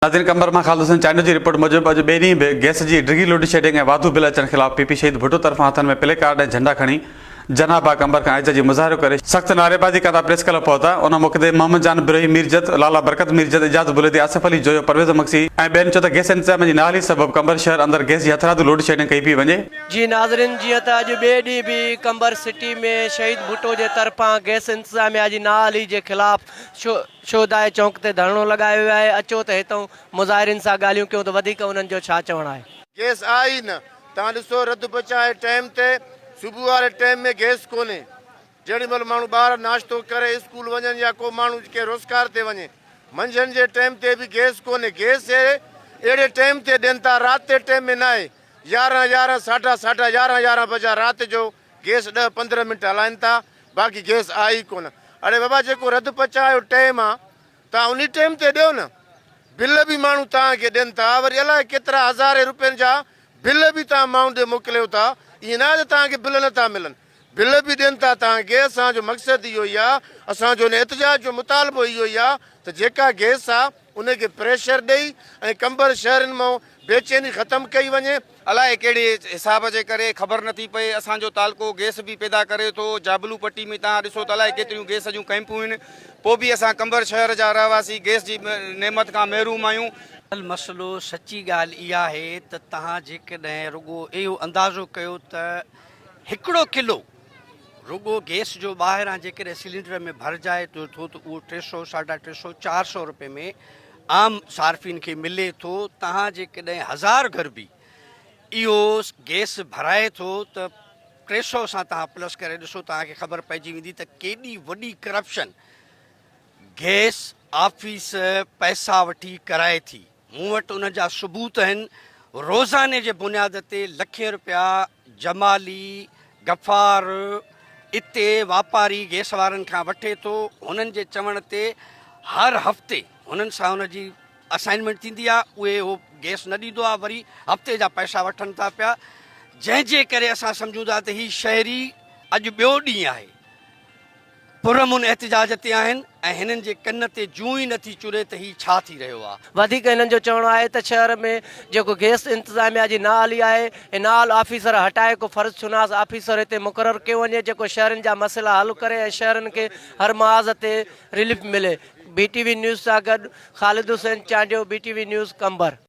ناظرين قمبر مان خالد حسين چانڊيو جي رپورٽ موجب اڄ ٻئي ڏينهن به گئس جي ڊگهي لوڊ شيڊنگ ۽ واڌو بل اچڻ خلاف پي پي شهيد ڀٽو طرفان هٿن ۾ پلي ڪارڊ ۽ جهنڊا کڻي جناح باغ قمبر کان احتجاجي مظاهرو ڪري سخت نعريبازي ڪندا پريس ڪلب پهتا ان موقعي تي محمد جان بروهي ميرجت لالا برڪت ميرجت اعجاز بليدي آصف علي جويو پرويز مگسي ۽ ٻين چيو ته گئس انتظاميه جي نااهلي سبب قمبر شهر اندر گئس جي هٿرادو لوڊ شيڊنگ ڪئي پئي وڃي. جي ناظرين جيئن ته اڄ ٻئي ڏينهن به قمبر سٽي ۾ شهيد ڀٽو جي طرفان گئس انتظاميه جي نااهلي جي خلاف شھدائي چونڪ تي ڌرڻو لڳايو ويو آھي اچو ته ھتئون مظاھرين سان ڳالھيون ڪيون ته وڌيڪ انھن جو ڇا چوڻ آھي. گيس آھي ئي نه تان ڏسو رڌ پچان ۽ ٽيم تي صبح واري ٽيم ۾ گيس ڪونھي جيڏي مھل ماڻھو ٻار ناشتو ڪري اسڪول وڃن يا ڪو ماڻھو ڪنھن روزگار تي وڃي منجھند جي ٽيم تي به گيس ڪونھي گيس اھڙي ٽيم تي ڏين ٿا رات جي ٽيم ۾ ناھي يارھن يارھن ساڍا ساڍا يارھن يارھن بجا رات جو گيس ڏهه پندرهن منٽ هلائن ٿا باقي گيس آئي ئي ڪونه. اڙي بابا جيڪو رڌ پچاء جو ٽيم آ توهان انهي ٽيم تي ڏيو نه. بل به ماڻهو توهان کي ڏين ٿا وري الاء ڪيترا هزارين رپين جا بل به توهان ماڻهن ڏي موڪليو ٿا ائين نه آهي ته توهان کي بل نه ٿا ملن بل به ڏين ٿا توهان کي اسان جو مقصد اهو ئي آ اسان جو هن احتجاج جو مطالبو اهو ئي آ ته جيڪا گيس آ ان کي پريشر ڏئي ۽ ڪمبر شهرين مان بيچيني ختم ڪئي وڃي. الائي ڪهڙي حساب جي ڪري خبر نه ٿي پئي اسان جو تعلقو گيس به پيدا ڪري ٿو جابلو پٽي ۾ توهان ڏسو ته الائي ڪيتريون گيس جون ڪئمپون آهن پوء به اسان قمبر شهر جا رهواسي گيس جي نعمت کان محروم آهيون. اصل مسئلو سچي ڳالهه اها آهي ته توهان جيڪڏهن رڳو اهو اندازو ڪيو ته هڪڙو ڪلو رڳو گيس جو ٻاهران جيڪڏهن سلينڊر ۾ ڀرجائي ٿو ته اهو ٽي سؤ ساڍا ٽي سؤ چار سؤ روپئي ۾ عام صارفين کي ملي ٿو تهان جيڪڏهن هزار گهر به اهو گئس ڀرائي ٿو ته ٽي سئو سان تهان پلس ڪري ڏسو تهان کي خبر پئجي ويندي ته ڪيڏي وڏي ڪرپشن گئس آفيس پئسا وٺي ڪرائي ٿي مون وٽ ان جا ثبوت آهن روزاني جي بنياد تي لکين روپيا جمالي غفار، اتي واپاري گئس وارن کان وٺي ٿو، هنن جي چوڻ تي هر هفتي هنن سان هن جي اسائنمينٽ ٿيندي آ، اهي اهو گئس نه ڏيندو آ، وري هفتي جا پئسا وٺن ٿا پيا، جنهن جي ڪري اسان سمجهون ٿا ته هي شهري اڄ ٻيو ڏينهن آهي. پرامن احتجاج تي آهن ۽ هنن جي ڪن تي جون ئي نٿي چري ته هي ڇا ٿي رهيو آ. وڌيڪ هنن جو چوڻ آهي ته شهر ۾ جيڪو گيس انتظاميا جي نااهلي آهي ۽ نااهل آفيسر هٽائي ڪو فرض شناس آفيسر هتي مقرر ڪيو وڃي جيڪو شهرين جا مسئلا حل ڪري ۽ شهرين کي هر محاذ تي رليف ملي بي ٽي وي نيوز سان گڏ Khalid Hussain Chandio B T V news Qambar.